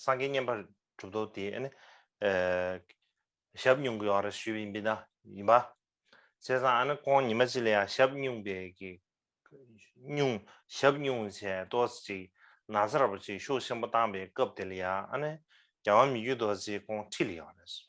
སངས་རྒྱས་བསྙེན་པར་གྲུབ་རྡོ་རྗེ་ཨ་ནི། ཞབས་བསྙུང་གི་བར་ཞུས་པའི་འབིན་ན་ཡིན་པ། བྱས་ཙང་ཨ་ནི་ཀོང་ཉི་མ་ཅི་ལ་ཡང་ཞབས་བསྙུང་པའི་གིས། བསྙུང་ཞབས་བསྙུང་བྱས་ཏོས་ཅིག་ན་ཚ་ར་པོ་ཆེའི་ཤུགས་ཆེན་པོ་བཏང་པའི་སྐབས་དེ་ལ་ཡང་ཨ་ནི། རྒྱལ་བ་མི་བརྒྱུད་རྡོ་རྗེ་ཀོང་ཁྲི་ལ་ཡང་རེ་ཞུས།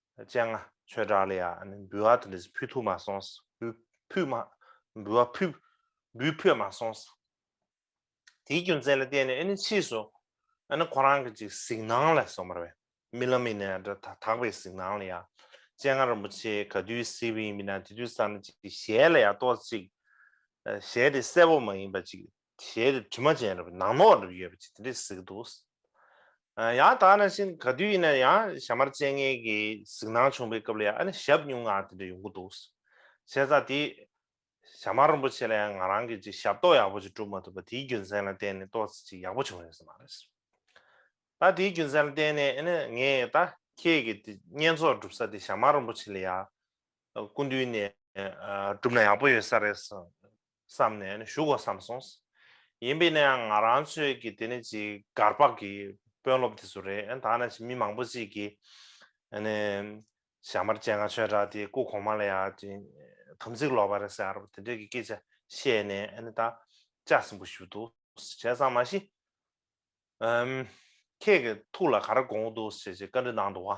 སྤྱན་སྔ་ཆོས་གྲགས་ལ་ཡང་འབུལ་བ་དེ་འདྲས་ཕུལ་ཐུབ་མ་སོང། འབུལ་བ་འབུལ་ཕོད་མ་སོང། དེའི་རྒྱུ་མཚན་ལ་བརྟེན་ནས་ཕྱིས་སུ་ཁོ་རང་གི་ཅིག་གཟིགས་སྣང་ལ་སོང་བར་བས་རྨི་ལམ་ཡིན་ནའི་དག་པའི་གཟིགས་སྣང་ལ་ཡང་སྤྱན་སྔ་རིན་པོ་ཆེ་ག་དུས་གཟིགས་པ་ཡིན་མིན་ན་དེ་དུས་བསམ་ན་ཅིག་གཞལ་ལ་ཡང་ལྟོས་ཅིག་གཞལ་དེ་གསལ་བོ་མ་ཡིན་པ་ཅིག་དེའི་རི་དྲི་མ་ཅན་རེད་ནག་ནོག་རེད་ཡོད་པ་ཅིག་དེ་འདྲའི་གཟིགས་འདུག། ཡང་དག་ན་བཞིན་ག་དུས་ཡིན་ན་ཡང་ཞྭ་དམར་སྤྱན་སྔའི་གི་གཟིགས་སྣང་བྱུང་པའི་སྐབས་ལ་ཡང་ཨ་ནི་ཞབས་སྙུང་ངང་དེ་འདྲ་ཡོང་གི་འདུག། བྱས་ཙང་དེ་ཞྭ་དམར་རིན་པོ་ཆེ་ལ་ཡང་ང་རང་གིས་ཅིག་ཞབས་ཏོག་ཡག་པོ་ཅིག་བསྒྲུབ་མ་ཐུབ་པ་དེའི་རྒྱུ་མཚན་ལ་བརྟེན་ནས་ཏོག་ཙེ་ཅིག་ཡག་པོ་བྱུང་ཡོད་ས་མ་རེད། ད་དེའི་རྒྱུ་མཚན་ལ་བརྟེན་ནས་ཨ་ནི་ངས་ད་ཁྱེད་ཀྱི་དེ་བསྙེན་རྫོགས་བསྒྲུབ་ས་དེ་ཞྭ་དམར་རིན་པོ་ཆེ་ལ་ཡང་སྐུ་མདུན་ནས་བསྒྲུབ་ན་ཡག་པོ་ཡོད་ས་རེད་གསུངས། བསམ་ནས་ནི་བཞུགས་གོ་བསམ་སོང། ཡིན་པས་ནའང་ང་རང་ཚོས་ཀྱི་དེ་ནི་ཅིག་སྒར་པགས་ཀྱི་དཔོན་སློབ་དེ་ཚོ་རེད་ཨ་ད་ནས་ཅིག་མི་མང་པོ་ཅིག་གིས་ཨ་ནི་ཞྭ་དམར་སྤྱན་སྔར་ཆོས་གྲགས་དེའི་སྐུ་གོང་མ་ལ་ཡང་ཅིག་དམ་ཚིག་ལོག་པ་རེད་ཟེར་བར་དེ་འདྲའི་ཀྱི་སྐད་ཆ་བཤད་ནས་ཨ་ནི་ད་ལྕགས་སྲིན་པོ་ཞུ་འདུག་བྱས་ཙང་མ་གཞི་ཨ་ཁྱེད་ཀྱི་ཐུགས་ལ་ག་རེ་དགོངས་འདུག་ཅེས་ཅིག་བཀའ་འདྲི་གནང་འདུག་ཨ་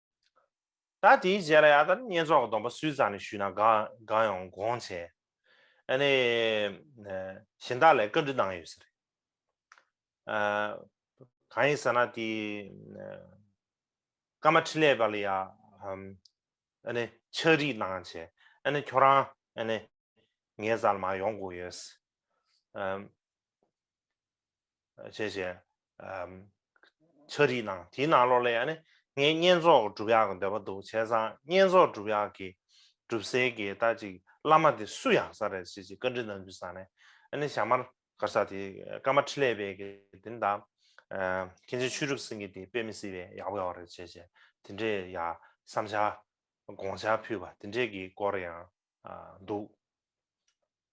ད་དེའི་རྗེས་ལ་ཡང་དང་བསྙེན་རྫོགས་སྡོམ་པ་སུས་ཙམ་ནས་ཞུས་ན་དགའ་དགའ་ཡོང་དགོངས་བྱས། ནས་གཞན་དག་ལས་བཀའ་འདྲི་གནང་ཡོད་ཟེར། གང་ཡིན་ཟེར་ན་དེ། ཀརྨ་འཕྲིན་ལས་པ་ལ་ཡང། ཕྱག་རིས་གནང་བྱས། ཁྱོད་རང། ངའི་ཟ་ལ་མ་ཡོང་དགོས་ཡོད། བྱས་བྱས། ཆ་རིས་གནང་དེའི་ནང་ལོགས་ལས་ཡ་ནི་ངས་བསྙེན་རྫོགས་སྒྲུབ་ཡག་གི་འདོད་པ་འདུག་བྱས་ཙང་བསྙེན་རྫོགས་སྒྲུབ་ཡག་གི་སྒྲུབ་སའི་གི་ད་ཅིག་བླ་མ་དེ་སུ་ཡག་ས་རེད་ཅེས་ཅིག་བཀའ་འདྲི་གནང་རྒྱུ་བསམ་ནས་ཡ་ནི་ཞྭ་དམར་སྒར་ས་དེ་ཀ་མ་ཁྲི་ལས་པའི་གི་དེ་ནི་ད་མཁན་ཆེན་ཆོས་གྲུབ་སེང་གེ་དེ་དཔེ་མི་སྲིད་པས་ཡག་པོ་ཡོག་རེད་བྱས་བྱས་དེ་འདྲའི་ཡ་བསམ་བྱ་དགོངས་འཆར་ཕུལ་བ་དེ་འདྲའི་གི་སྐོར་ཡང་འདུག།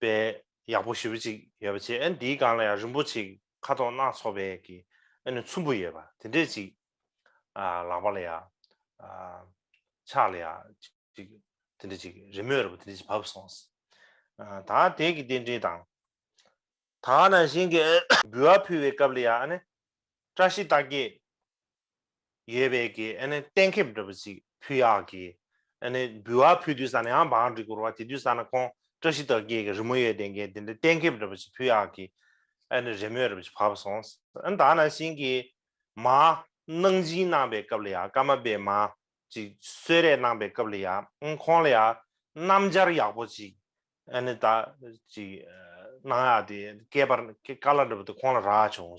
པའི་ཡག་པོ་ཞེ་པོ་ཅིག་ཡོད་པ་བྱས་ཨེ་འདིའི་སྒང་ལ་ཡང་རིན་པོ་ཆེ་ཁ་དོག་སྣ་ཚོགས་པའི་གི་ཨེ་ནི་ཚོམ་བུ་ཡོད་པ་དེ་འདྲས་ཅིག་ལག་པ་ལ་ཡང་ཕྱག་ལ་ཡང་ཅིག་དེ་འདྲས་ཅིག་རི་མོའི་ར་བ་དེ་འདྲས་ཅིག་བབས་སོང་ད་དེ་གི་རྟེན་འབྲེལ་དང། ད་ནང་བཞིན་གི་འབུལ་བ་ཕུལ་བའི་སྐབས་ལ་ཡང་ཨ་ནི་བཀྲ་ཤིས་རྟགས་བརྒྱད་ཡོད་པས་ཀྱི་ཨ་ནི་གཏན་ཁེབས་འདྲ་པོ་ཅིག་ཕུལ་ཡག་གི་ཨ་ནི་འབུལ་བ་ཕུལ་དུས་ས་ནི་ཡང་བང་སྒྲིག་གུར་བ་དེ་དུས་ས་ན་ཁོང་བཀྲ་ཤིས་རྟགས་བརྒྱད་ཀྱི་རི་མོ་ཡོད་དེ་འགན་དེ་འདྲའི་གཏན་ཁེབས་འདྲ་པོ་ཅིག་ཕུལ་ཡག་གི་ཨ་ནི་རེ་མོས་རེ་བོ་ཅིག་བབས་སོང་ཨ་ནི་དག་ན་བཞིན་གྱི་མ་གནང་སྦྱིན་གནང་པའི་སྐབས་ལ་ཡང་སྐར་མ་པའི་མ་ཅིག་གསོལ་རས་གནང་པའི་སྐབས་ལ་ཡང་ཁོང་ལ་ཡང་སྣམ་སྦྱར་ཡག་པོ་ཅིག་ཨ་ནི་དག་ཅིག་གནང་ཡག་དེ་སྐལ་པར་སྐལ་ལ་འདྲ་པོ་དེ་ཁོང་ལ་རག་བྱུང་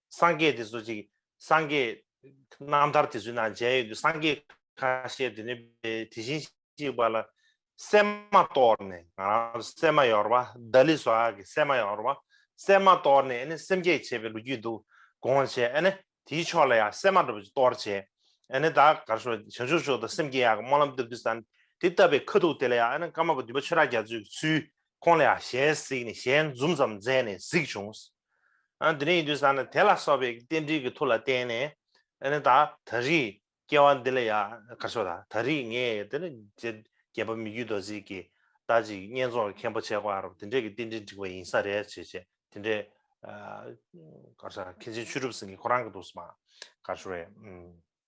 སངས་རྒྱས་དེ་ཚོ་ཅིག་སངས་རྒྱས། རྣམ་ཐར་དེ་ཚོའི་ནང་མཇལ་ཡོད་དུས་སངས་རྒྱས་ཁ་ཤས་དེ་ནི་དེ་བཞིན་གཤེགས་པ་ལ་སེམས་མ་གཏོར་ནས་ང་རང་ལ་སེམས་མ་ཡོར་བ་ལྡ་ལི་སོགས་ཀྱི་སེམས་མ་ཡོར་བ་སེམས་མ་གཏོར་ནས་ནི་སེམས་བསྐྱེད་བྱེད་པའི་ལོ་རྒྱུས་འདུག་དགོངས་བྱས་ཨ་ནི་དེའི་ཕྱོགས་ལ་ཡང་སེམས་མ་འགྲོ་བ་ཅིག་གཏོར་བྱས་ཨ་ནི་ད་གར་ཞོག་བྱང་ཆུབ་ཕྱོགས་དང་སེམས་བསྐྱེད་ཡག་གི་སྨོན་ལམ་བཏབ་དུས་ས་དེ་བཏབ་པའི་ཁ་ཐུག་དེ་ལ་ཡང་ཨ་ནི་ཀརྨ་པ་བདུན་པ་ཆོས་གྲགས་རྒྱ་མཚོས་ཀྱི་ཚུལ་ཁོང་ལ་ཡང་ཞལ་གཟིགས་ནས་ཞལ་འཛུམ་ཙམ་མཛད་ནས་གཟིགས་བྱུང། དེ་ནས་ཡིན་དུས་ས་ནི་དེ་ལ་སོགས་པའི་རྟེན་འབྲེལ་གྱི་ཐུགས་ལ་བརྟེན་ནས། ད་ད་རེས་སྐྱེ་བ་འདི་ལ་ཡང་དགར་ཆོག་ད་ད་རེས་ངས་དེ་ནི་རྒྱལ་བ་མི་བརྒྱུད་རྡོ་རྗེ་གྱི་ད་ཅིག་བསྙེན་རྫོགས་ཀྱི་མཁན་པོ་ཆེ་བར་དེ་འདྲས་ཀྱི་རྟེན་འབྲེལ་འགྲིག་པ་ཡིན་ས་རེད་ཅེས་བྱས་དེ་འདྲས། མཁན་ཆེན་ཆོས་གྲུབ་སེང་གེ་ཁོ་རང་གི་ཐུགས་སུ་མ་དགར་བྱུང་བས།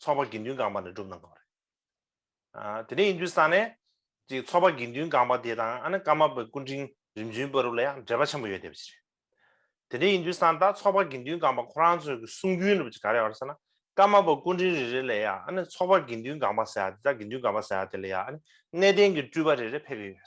ཚོགས་པ་དགེ་འདུན་སྒང་པ་ནས་བསྒྲུབས་གནང་དགོས་པ་རེད། དེ་འདྲ་ཡིན་དུས་ས་གནས་ཀྱི་ཚོགས་པ་དགེ་འདུན་སྒང་པ་དེ་དང་ཨ་ནེ་ཀརྨ་པའི་སྐུ་འཕྲེང་རིམ་བྱོན་དཔོན་རུབ་ལ་ཡང་འབྲེལ་པ་ཆེན་པོ་ཡོད་བསྡད་པ་ཞིག་རེད། དེ་འདྲ་ཡིན་དུས་ས་མཐར་ཚོགས་པ་དགེ་འདུན་སྒང་པ་ཁོ་རང་ཚོའི་གསུང་རྒྱུན་རུབ་ཀྱི་ག་རེ་བར་ས་ན་ཀརྨ་པ་སྐུ་འཕྲེང་རེ་རེ་ལས་ཡང་ཨ་ནེ་ཚོགས་པ་དགེ་འདུན་སྒང་པ་ཟེར་ཡ་དེ་དང་དགེ་འདུན་སྒང་པ་ཟེར་ཡ་དེ་ལས་ཡང་ཨ་ནེ་གནས་བརྟན་གྱི་སྤྲུལ་པ་རེ་རེ་ཕེབས་ཀྱི་ཡོད།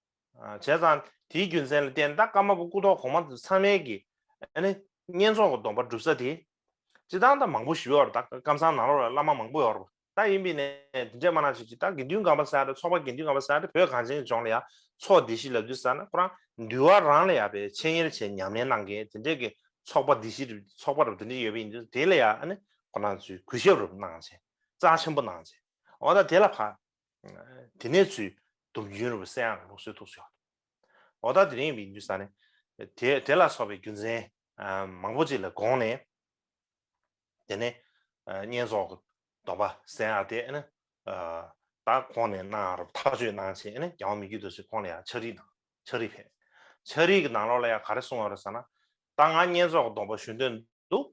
བྱས་ཙང་དེའི་རྒྱུ་མཚན་ལ་བརྟེན་ད་ཀརྨ་པ་སྐུ་ཐོག་གོང་མ་ཚང་མལ་གྱི། བསྙེན་རྫོགས་ཀྱི་སྡོམ་པ་བསྒྲུབ་ས་དེ། ཅི་སྟང་ད་མང་པོ་ཞི་བའི་བར་ད་ཀརྨ་སང་ནང་ལོགས་ལ་བླ་མ་མང་པོ་ཡོར་ད་ཡིན་པས་ནས་དེ་འདྲས་མ་ན་བྱེད་ཅིག་ད་དགེ་འདུན་གམ་པ་སའི་ད་ཚོགས་པ་དགེ་འདུན་གམ་པ་སའི་ད་བོད་གངས་ཅན་གྱི་ལྗོངས་ལ་ཡང་ཚོགས་སྡེ་བཞི་ལབ་དུས་ས་ན་ཁོ་རང་འདུལ་བ་རང་ལ་ཡང་པའི་འཆད་ཉེར་བྱས་ཉམས་ལེན་གནང་མཁན་དེ་འདྲས་ཀྱི་ཚོགས་པ་སྡེ་བཞི་རུ་ཚོགས་པ་རུ་དེ་འདྲས་ཡོད་པ་ཡིན་དུས་དེ་ལ་ཡང་ཁོ་རང་ཚོས་གུས་ཞབས་རུ་གནང་བྱས་རྩ་ཆེན་པོ་གནང་བྱས་འོ་ད་དེ་ལ་ཕ་དེ་ནས་ཚུལ་དུམ་རྒྱུན་རིན་པོ་སེའང་ལུགས་སྲོལ་ཐུགས་སུ་ཡོང། འོ་ད་དེ་རིང་བིན་རྒྱུ་ས་ནས་དེ་ལ་སོགས་པའི་རྒྱུ་མཚན་མང་པོ་ཅིག་ལ་དགོངས་ནས། དེ་ནས་བསྙེན་རྫོགས་ཀྱི་སྡོམ་པ་སེའང་དེ་ནི་ད་ཁོང་ནས་གནང་རོགས་ཐག་གཅོད་གནང་བྱས་ནས་རྒྱལ་དབང་མི་རྒྱུད་དུ་སོས་ཁོང་ལ་ཡང་ཕྱག་རིས་གནང། ཆགས་རིགས་ཕལ་ཆགས་རིགས་ཀྱི་ནང་ལོགས་ལ་ཡང་ག་རེ་གསུངས་བ་རེད་ཟེར་ན། ད་ང་བསྙེན་རྫོགས་སྡོམ་པ་ཞུ་འདོད་འདུག།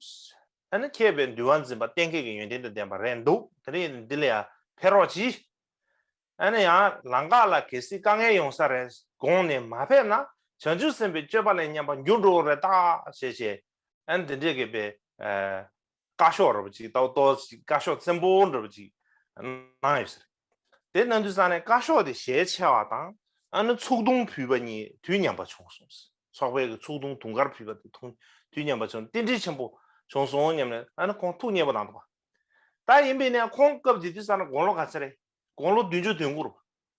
ཨ་ནི་མཁས་པའི་འདུལ་བ་འཛིན་པ་གཏན་འཁེལ་གྱི་ཡོན་ཏན་དང་ལྡན་པ་རེད་འདུག་དེ་རིང་འདི་ལ་ཡང་ཕེབས་རོགས་གྱིས། ཨ་ནི་ཡང་ལང་ཀ་ལ་གལ་སྲིད་དཀའ་ངལ་ཡོང་ས་རེད་དགོངས་ནས་མ་ཕེབས་ན་བྱང་ཆུབ་སེམས་དཔའི་སྤྱོད་པ་ལས་ཉམས་པ་འགྱུར་འགྲོ་བ་རེད་ད་ཞེས་བྱས། ཨ་ནི་དེ་འདྲའི་གེ་པའི། བཀའ་ཤོག་ར་བ་ཅིག་ཏའོ་ཏའོ་ཞེས་བཀའ་ཤོག་བཙན་པོ་འདྲ་བ་ཅིག་གནང་ཡོད་ཟེར། དེ་གནང་དུས་ས་ནས་བཀའ་ཤོག་དེ་ཞལ་ཕྱེ་བ་དང་ཨ་ནུ་ཚུགས་ཐུང་ཕུལ་བ་གཉིས་དུས་མཉམ་པ་བྱུང་གསུངས། ཚོགས་པས་ཀྱི་ཚུགས་ཐུང་དུང་དཀར་ཕུལ་བ་དེ་ཐུང་དུས་མཉམ་པ་བྱུང་རྟེན་འབྲེལ་ཆེན་པོ་བྱུང་སོང་སྙམ་ནས་ཨ་ནུ་ཁོང་ཐུགས་མཉེས་པོ་གནང་འདུག་པ། ད་ཡིན་པས་ནས་ཁོང་སྐབས་དེ་དུས་ས་ན་དགུང་ལོ་ག་ཚད་རེད་དགུང་ལོ་བདུན་ཅུ་དོན་དགུ་རུ།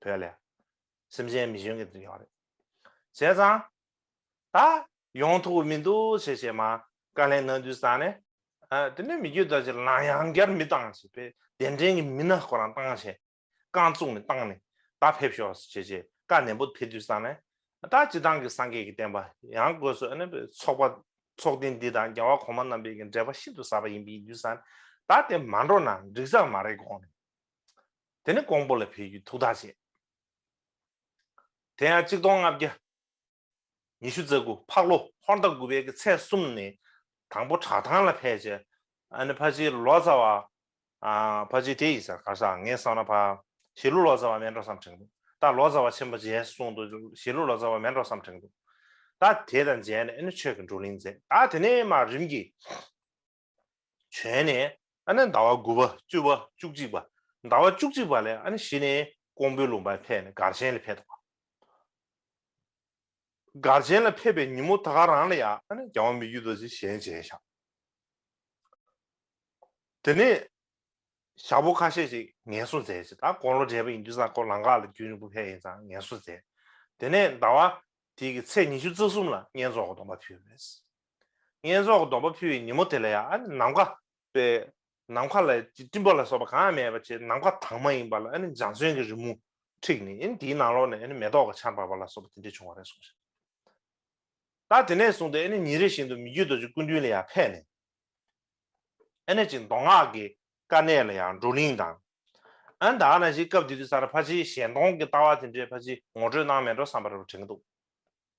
བོད་ལས། སེམས་ཅན་མི་གཞོན་གྱི་འདུན་ཡོང་རེད། བྱས་ཙང། ད། ཡོང་ཐུག་མི་འདུག་བྱས་བྱས་མ། བཀའ་ལན་གནང་དུས་ཙང་ནས། དེ་ནས་མི་རྒྱུད་དར་ཆེ་ལང་ཡང་བསྐྱར་མི་བཏང་བྱས་པས་གདན་འདྲེན་གྱི་མི་སྣ་ཁོ་རང་བཏང་བྱས། རྐང་བཙུགས་ནས་བཏང་ནས། ད་ཕེབས་ཤོག་བྱས་བྱས་བཀའ་ནན་པོ་ཕེབས་དུས་ཙང་ནས། ད་སྤྱི་བཏང་གི་སངས་རྒྱས་ཀྱི་བསྟན་པ་ཡང་དགོས་སོ་ཨ་ནི་བས་ཚོགས་པ། ཚོགས་སྡེ་འདི་དང་རྒྱལ་བ་གོང་མ་རྣམ་པས་ཀྱི་འབྲེལ་པ་ཤིན་ཏུ་ཟབ་པ་ཡིན་པས་ཡིན་དུས་ཙང་ནས། ད་དེ་མ་འགྲོ་ན་འགྲིག་ས་མ་རེད་དགོངས་ནས། དེ་ནི་ཀོང་པོ་ལ་ཕེབས་རྒྱུའི་ཐུགས་ཐག་བཅད། དེ་ཡང་གཅིག་སྟོང་ལྔ་བརྒྱ་ཉི་ཤུ་རྩ་དགུ་ཕག་ལོ་ཧོར་ཟླ་དགུ་པའི་གི་ཚེས་གསུམ་ནས་དང་པོ་བྲག་ཐང་ལ་ཕེབས། རྗེ་ཨ་ནི་ཕ་བྱི་ལོ་ཙཱ་བ། ཕ་བྱི་དེ་ཡི་སར་གར་སར་ངེད་བསམ་ན་ཕ་བྱི་ལོ་ལོ་ཙཱ་བ་མེད་འགྲོ་བསམ་དྲན་འདུག་ད་ལོ་ཙཱ་བ་ཆེན་པོ་རྗེས་གསུང་དུ་བྱི་ལོ་ལོ་ཙཱ་བ་མེད་འགྲོ་བསམ་དྲན་འདུག་ད་དེ་དང་མཇལ་ནས་ཨ་ནི་ཆོས་ཀྱི་འགྲོ་གླིང་མཛད་ད་དེ་ནས་མར་རིམ་གྱིས། བྱོན་ནས་ཨ་ནི་ཟླ་བ་དགུ་པ་བཅུ་བ་བཅུ་གཅིག་པ་ཟླ་བ་བཅུ་གཅིག་པ་ལས་ཨ་ནི་གཞི་ནས་ཀོང་པོའི་ལུང་པའི་ཐད་ནས་སྒར་ཆེན་ལ་ཕེབས་ཏོ། སྒར་ཆེན་ལ་ཕེབས་པའི་ཉིན་མོ་དག་རང་ལ་ཡང་ཨ་ནི་རྒྱ་བ་མི་རྒྱུད་དོ་ཅི་གཞན་བྱས་བཞག། དེ་ནས་ཞག་པོ་ཁ་ཤས་ཅིག་ངལ་གསོ་མཛད་ཅིང་ད་ཀོང་ལོ་བགྲེས་པ་ཡིན་དུས་ས་ཀོ་ལང་ཁ་ལ་རྒྱུན་རིང་པོ་ཕེབས་ཡིན་ཙང་ངལ་གསོ་མཛད། དེ་ནས་ཟླ་བ་དེའི་ཚེས་ཉི་ཤུ་རྩ་གསུམ་ལ་བསྙེན་རྫོགས་སྒོ་སྟོང་པ་ཕུལ། བསྙེན་རྫོགས་སྡོམ་པ་ཕུལ་བའི་ཉིན་མོ་དེ་ལ་ཡང་ནམ་མཁའ་སྤེལ། ནམ་མཁའ་ལ་སྤྲིན་པ་ལ་སོགས་པ་གང་ཡང་མེད་པར་བྱས་ཏེ་ནམ་མཁའ་དྭངས་མ་ཡིན་པ་ལ་འཇང་ཚོན་གྱི་རི་མོ་འཁྲིགས་ནས་དེའི་ནང་ལོགས་ནས་མེ་ཏོག་གི་ཆར་འབབ་པ་ལ་སོགས་པ་དེ་འདྲའི་བྱུང་བ་རེད་གསུངས་ཤིང། ད་དེ་ནས་བཟུང་སྟེ་ཉིན་རེ་བཞིན་དུ་མི་རྒྱུད་རྡོ་རྗེ་སྐུ་མདུན་ལ་ཡང་ཕེབས་ནས། ཨེ་ཅིང་མདོ་སྔགས་ཀྱི་དཀའ་གནད་ལ་ཡང་བགྲོ་གླེང་དང། ཨན་ད་ན་བཞིན་སྐབས་དེ་དུས་ས་ར་ཕ་ཆེའི་ཞལ་མཐོང་གི་ལྟ་བ་དེ་འདྲའི་ཕ་ཆེའི་ངོ་སྤྲོད་གནང་མེད་འགྲོ་བསམ་པར་བྲེལ་གྱི་འདུག།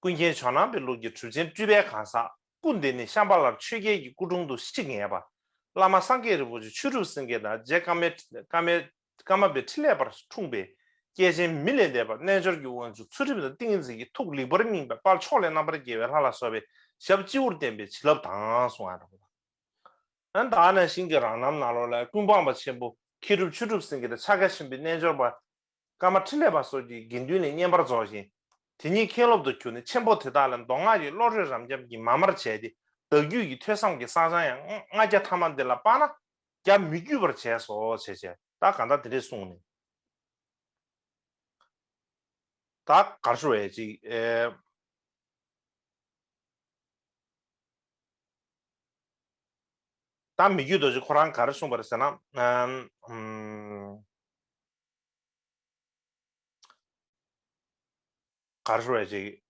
ཀུན་མཁྱེན་ཇོ་ནང་པའི་ལུགས་ཀྱི་གྲུབ་ཆེན་སྤྲུལ་པའི་གང་ཟག་སྐུ་འདི་ནི་ཤམ་པ་ལར་ཆོས་རྒྱལ་གྱི་སྐུ་དྲུང་དུ་གཤེགས་ངེས་པ། བླ་མ་སངས་རྒྱས་རིན་པོ་ཆེ་ཆོས་གྲུབ་སེང་གེ་དང་རྗེ་ཀརྨ་པའི་ཁྲི་ལས་པར་འཁྲུངས་པའི་སྐྱེས་ཆེན་མི་ལས་འདས་པ་རྣལ་འབྱོར་གྱི་དབང་ཕྱུག་ཚུལ་ཁྲིམས་དང་ཏིང་ངེ་འཛིན་གྱི་ཐུགས་ལེགས་པར་སྙིང་པའི་དཔའ་མཆོག་ལས་རྣམ་པར་རྒྱལ་བའི་ལྷ་ལ་སོགས་པའི་ཞབས་སྤྱི་བོར་བསྟན་པའི་བྱིན་རླབས་དྭངས་སུ་དྭངས། བདག་ནི་ཞིང་གི་རང་རྣམ་ནཱ་རོ་ལའི་ཀུན་སྤངས་པ་ཆེན་པོ་མཁས་གྲུབ་ཆོས་གྲུབ་སེང་གེ་དང་ཕྱག་རྒྱ་ཆེན་པོའི་རྣལ་འབྱོར་པ། བཀའ་མ་ཕྲིན་ལས་པ་སོགས་ཀྱི་དགེ་འདུན་ལས་བསྙེན་པར་རྫོགས་ཤིང། དེ་ཉིད་མཁན་སློབ་ཏུ་གྱུར་ནས་ཆེན་པོ་དེ་དག་ལས་མདོ་སྔགས་ཀྱི་བློ་གྲོས་རབ་འབྱམས་ཀྱིས་མ་མར་བྱས་ཏེ་བདག་རྒྱུད་ཀྱི་ཐོས་བསམ་གྱི་བསགས་སྦྱང་ཡང་ལྔ་བརྒྱ་ཐ་མ་འདི་ལ་དཔགས་ན། རྒྱ་མི་རྒྱུད་པར་བྱས་སོ་བྱས་བྱས་བདག་གང་དག་དེ་འདྲས་གསུངས་ནས། བདག་གར་ཞུ་བའི་ཅིག། བདག་མི་རྒྱུད་རྡོ་རྗེ་ཁོ་རང་གར་གསུངས་པར་ཟད་ན། ག་རེ་བྱེད་ཀྱི།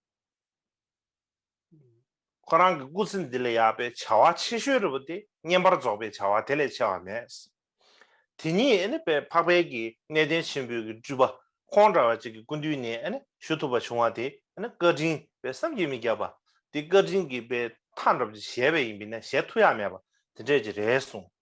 ཁོ་རང་གི་སྐུ་ཚེ་འདི་ལས་ཡག་པའི་བྱ་བ་ཆེ་ཤོས་རེ་བ་དེ་བསྙེན་པར་རྫོགས་པའི་བྱ་བ་དེ་ལས་ཆེ་བ་མེད། དེ་ཉིད་འཕགས་དཔལ་གྱི་གནས་བརྟན་ཆེན་པོའི་གི་སྤྲུལ་པ་ཁོང་འདྲ་བ་ཅིག་གི་སྐུ་མདུན་ནས་ཞུ་ཐུབ་པ་བྱུང་བ་དེ་བཀའ་དྲིན་པའི་བསམ་གྱིས་མི་ཁྱབ་པ། འདི་བཀའ་དྲིན་གྱི་པའི་མཐའ་འགྲམ་གྱི་བཞེས་པ་ཡིན་པས་ན་བཞེས་ཐུ་ཡག་མེད་པ་དེ་འདྲས་ཀྱི་རེད་གསུངས།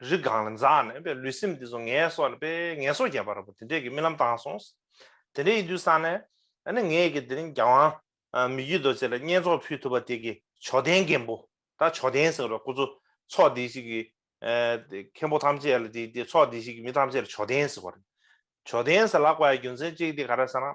རི་སྒང་ལ་འཛག་ནས་པའི་ལུས་སེམས་འདི་ཚོ་ངལ་གསོ་ལ་པའི་ངལ་གསོ་བརྒྱབ་པ་ར་པོ་དེ་འདྲས་ཀྱི་རྨི་ལམ་བཏང་སོང། དེ་འདྲའི་ཡི་དུས་སང་ནས་ཨ་ནི་ངས་ཀྱི་དེ་རིང་རྒྱ་དབང་མི་རྒྱུད་རྡོ་རྗེ་ལ་བསྙེན་རྫོགས་ཕུལ་ཐུབ་པ་དེ་ཀྱི་ཇོ་དན་རྒན་པོ་ད་ཇོ་དན་ཟེར་བ་ཁོ་ཚོ་ཚོགས་སྡེ་ཞིག་གི་མཁན་པོ་ཐམས་ཅད་ལ་དེ་ཚོགས་སྡེ་ཞིག་གི་མི་ཐམས་ཅད་ལ་ཇོ་དན་ཟེར་བ་རེད། ཇོ་དན་ཟེར་ལག་པའི་རྒྱུ་མཚན་གཅིག་དེ་ག་རེ་ཟེར་ན།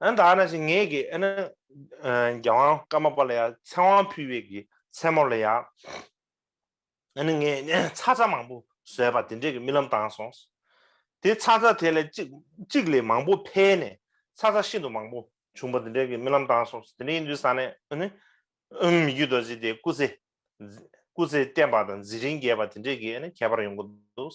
ཨན་ད་ན་ཅིག་ངེད་ཀྱིས་ཨན་རྒྱལ་དབང་བཀའ་མ་པ་ལ་ཡང་མཚན་དབང་ཕུལ་བས་ཀྱི་མཚན་མོ་ལ་ཡང་ཨན་ངས་ཚ་ཚ་མང་པོ་བཟོས་པ་དེ་འདྲས་ཀྱི་རྨི་ལམ་བཏང་སོང། དེ་ཚ་ཚ་དེ་ལས་ཅིག་ཅིག་ལས་མང་པོ་འཕེལ་ནས་ཚ་ཚ་ཤིན་ཏུ་མང་པོ་བྱུང་བ་དེ་འདྲས་ཀྱི་རྨི་ལམ་བཏང་སོང་དེ་འདྲས་ཡིན་དུས་ས་ནས་ཨན་མི་རྒྱུད་རྡོ་རྗེ་དེ་སྐུ་ཚེ་སྐུ་ཚེ་བརྟན་པ་དང་འཛིན་རིན་རྒྱས་པ་དེ་འདྲས་ཀྱི་ཨན་ཁྱད་པར་ཡོང་གི་འདུག།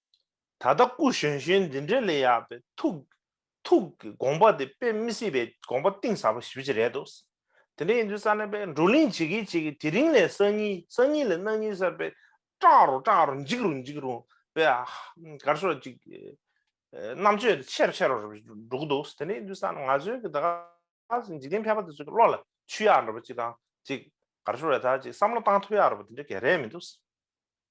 ད་ལྟ་སྐུ་གཞོན་གཞོན་འདི་འདྲའི་ལས་ཡག་པའི་ཐུགས་ཐུགས་ཀྱི་དགོངས་པ་དེ་དཔེ་མི་སྲིད་པའི་དགོངས་པ་གཏིང་ཟབ་པ་ཞིག་བཞི་རེད་འདུག་དེ་འདྲ་ཡིན་དུས་ས་གནས་པས་འགྲོ་གླིང་ཇི་གི་ཇི་གི་དེ་རིང་ལས་སང་ཉིན་སང་ཉིན་ལས་གནངས་ཉིན་གསར་པའི་སྐྲག་རུང་སྐྲག་རུང་འཇིགས་རུང་འཇིགས་རུང་བས་གར་སོ་ཅིག་རྣམ་དཔྱོད་དེ་ཆེ་རུ་ཆེ་རུ་འགྲོ་གི་འདུག་དེ་འདྲ་ཡིན་དུས་ས་ནས་ང་ཚོའི་གི་ད་ག་ཟེ་འཇིག་རྟེན་ཕལ་པ་དེ་ཚོའི་གི་བློ་ལ་ཆུ་ཡག་འདྲ་པོ་ཅིག་དང་ཅིག་གར་སོ་རེ་ད་ཅིག་བསམ་བློ་བཏང་ཐུབ་ཡག་རུ་པ་དེ་འདྲ་ག་རེ་མི་འདུག།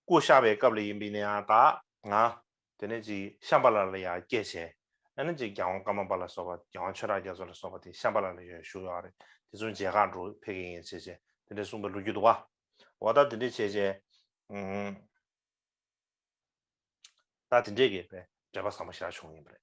སྐུ་བཤགས་པའི་སྐབས་ལ་ཡིན་པས་ནི་ཨ་ད་ང། དེ་ནས་ཅིག་ཤམྦྷ་ལ་ལ་ཡང་བསྐྱེད་བྱས། ཨེ་ན་ཅིག་རྒྱལ་དབང་ཀརྨ་པ་ལ་སོགས་པ་རྒྱལ་དབང་ཆོས་གྲགས་རྒྱ་མཚོ་ལ་སོགས་པ་དེ་ཤམྦྷ་ལ་ལ་ཡོད་བཞུགས་ཡོད་རེད་དེ་ཚོ་མཇལ་ཁ་འགྲོ་ཕེབས་མཁན་ཡིན་བྱས་བྱས་དེ་འདྲའི་གསུངས་པའི་ལོ་རྒྱུས་འདུག་བ། འོ་ད་དེ་འདྲས་བྱས་བྱས། ད་དེ་འདྲས་ཀྱི་དཔེ་འགྲེལ་པ་བཟང་པོ་ཞིག་རག་བྱུང་ཡིན་པ་རེད།